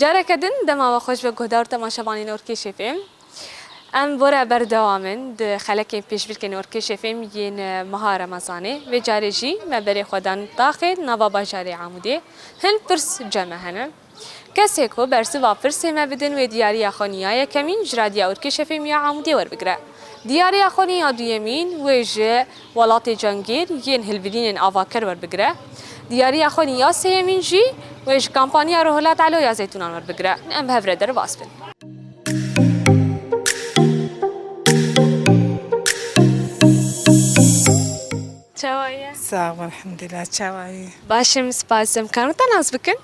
Careke din dema we xweş ve guhdar û temaşevanên Orkêşê fêm. Em bore berdewam in di xelekên pêşbirkên Orkêşê fêm yên meha Remezanê. Vê carê jî me berê xwe dan taxê nava bajarê Amûdê. Hin pirs cem e hene. Kesê ku bersiva pirsê me bidin wê diyariya xwe niya yekemîn ji Radya Urkê Şefê Miya Amûdê werbigire. Diyariya xwe niya duyemîn wê ji Welatê Cangîr yên hilbidînên avakir werbigire. Diyariya xwe niya sêyemîn jî wê ji Kampaniya Rohilat Elo ya Zeytûnan werbigire. Em bi hev re derbas bin. Çawa ye? Sax bû elhamdulillah. Çawa ye? Baş im spas. Em karin weta nas bikin?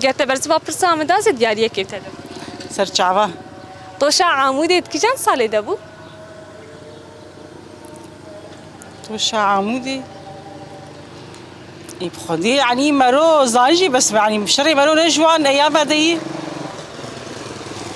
Ger te bersiva pirsa min da zê diyariyekê te dim. Serçava. Toşa Amûdê di kîjan salê de bû? Toşa Amûdê Ê bi xwedê yanî mero zanî jî bes yanî şerê mero ne ji wan ya vedeyî.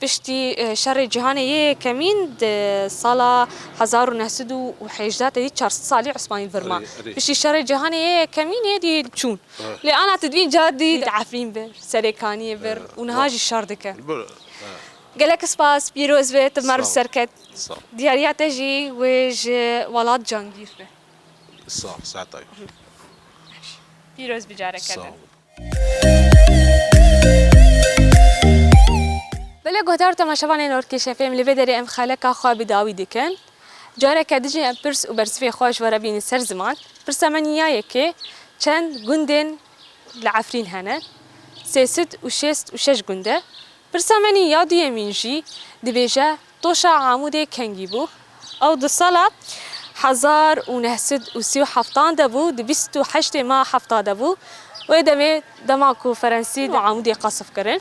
Piştî Şerê Cîhanê yê Yekemîn di sala hezar û neh sed û hêjda tevî çar sed salî Osmanî virma. Piştî Şerê Cîhanê yê Yekemînê dî çûn. Lê ana tu dibîn carî dî di Efrîn bir, Serêkaniyê bir û niha jî şer dike. Gelek spas, pîroz be, tu merv ser ket. Diyariya te jî wê ji welat cangîr be. Pîroz be careke din. Bila guhdar û temaşevanên Orkîşê fêm li vê derê em xeleka xwe bi dawî dikin. Careke di jî em pirs û bersivê xwe ji we re bînin ser ziman. Pirsa me niya ye kê çend gundên li Efrîn hene. Sêsîd û şêst û şeş gunde Pirsa menî ya duyemîn jî dibêje doşa Amûdê kengî bû. Ew di sala hezar û neh sed û sî û heftan de bû, di bîst û heştê ma hefta de bû. Wê demê dema ku Ferensî di Amûdê qasif kirin.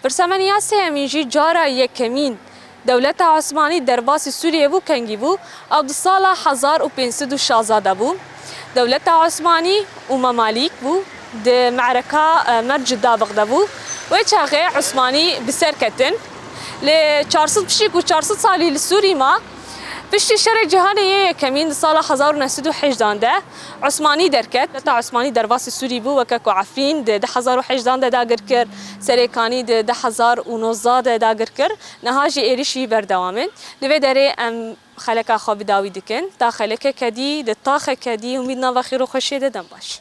Pirsa menî ya sêyemîn jî cara yekemîn Dewleta Osmanî derbasî Sûriyê bû kengî bû ew di sala hezar û pênc sed û şazdeh de bû. Dewleta Osmanî û Memalîk bû di me'reka Merc û Dabiq de bû. Wê çaxê Osmanî bi ser ketin. Lê çar sed pişik û çar sed salî li Sûrî ma. Piştî Şerê Cîhanê yê Yekemîn di sala hezar û neh sed û heyjdan de, Osmanî derket. Heta Osmanî derbasî Sûrî bû weke ku Efrîn di di hezar û hejdan de dagir kir, serê Kanî di di hezar û nozda de dagir kir, niha jî êrîş wî berdewam e. Li vê derê em xeleka xwe bi dawî dikin. Ta xelekeke dî, di taxeke dî hûn bî di nava xêroxweşiyê de dem baş.